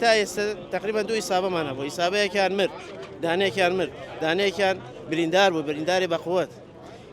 تا ئێستا تقریبا دوو ئیسابەمان هەبوو ئیسابەیەکیان مرد دانێکیان مرد دانێکیان بریندار بوو برینداری بەقوت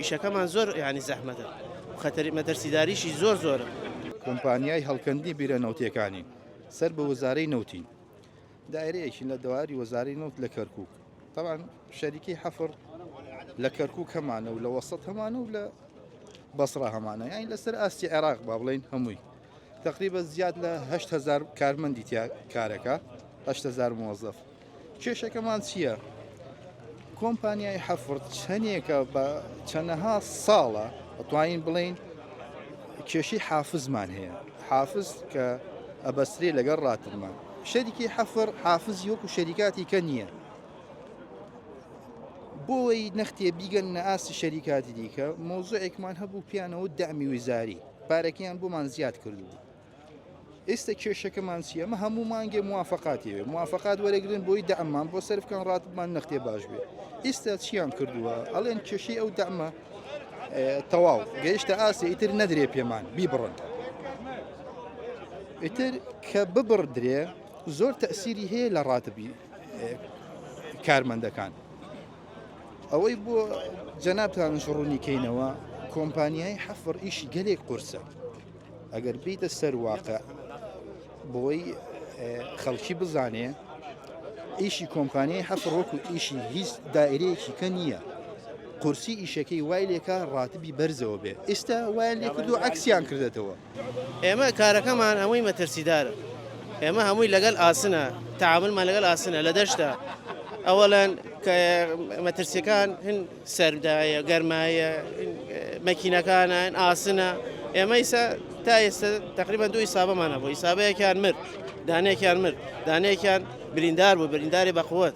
ئیشەکەمان زۆر ینی زەحمەتە خەتەری مەترسیداریشی زۆر زۆرە کۆمپانیای هەڵکەندی بیرە نەوتیەکانی سەر بە وەزارەی نەوتین دایرەیەکی لە دەواری وەزاری نەوت لە کەرکک تاوان شەریکی حەفر لە کەرکک هەمانە و لە وەسەد هەمانە و لە بەسرا هەمانە یانی لەسەر ئاستی عێراق با بڵین هەمووی تەقریبەن زیاد لە هەشت هەزار کارمەندی تیا کارەکە هەشت هەزار مۆزەف کێشەکەمان چییە؟ کۆمپانیای حەفرد چەندێکە بە چەندەها ساڵە ئەتوانین بڵین کێشی حافزمان هەیە حافز کە ئەبەستری لەگەڵ ڕاتمان شەریکی حەفر حافز یۆک و شەریکاتی کە نییە بۆی نەختێ بیگەن نە ئاستی شەریکاتی دیکە مۆزۆێکمان هەبوو پیانەوە دامی وزاری پارەکەیان بۆمان زیاد کردوو ئێستا کێشەکەمان چی ئەمە هەموو مانگێ موافقاتێ موافقات وەرەگرن بۆی دەمان بۆ سەرفکان ڕاتمان نەختێ باش بێت ئێستا چیان کردووە ئەڵێن کێشەی ئەو دەمە تەواو گەیشتە ئاستی ئیتر نەدرێ پێمان بیبڕن ئیتر کە ببڕدرێ زۆر تەسیری هەیە لە ڕاتبی کارمەندەکان ئەوەی بۆ جەنابتانش ڕوونی کەینەوە کۆمپانیای حەفڕ ئیشی گەلێک قورسە ئەگەر بیتە سەر واقع بۆی خەڵکی بزانێ ئیشی کۆمپانیای حەفڕ وەکو ئیشی هیچ دایرەیەکی کە نییە قورسی ئیشەکەی وای لێکە ڕاتبی بەرزەوە بێ ئێستا وای لێکردو عکسیان کردێتەوە ئێمە کارەکەمان هەمووی مەترسیدارە ئێمە هەمووی لەگەل ئاسنە تعاملمان لەگەل ئاسنە لە دەشتا ئەوەلەن مەترسیەکان هەن سەردایە گەرمایە مەکینەکانە ئاسنە ئێمە ئیسا تا ئێستا تقریبان دوو حسابمانە بۆ حسابەیەکیان مرد دانێکیان مرد دانێکیان بریندار بوو برینداری بەقوت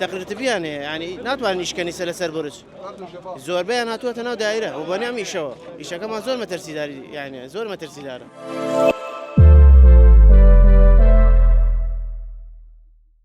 تەقرتبیان هەیە ینی ناتوانانی شکەنیسە لەسەر برج زۆربیان هاتووەتە ناو دایرە و بەنیام ئیشەوە ئیشەکەمان زۆر مەترسیداری یانە زۆر مەترسیدارە.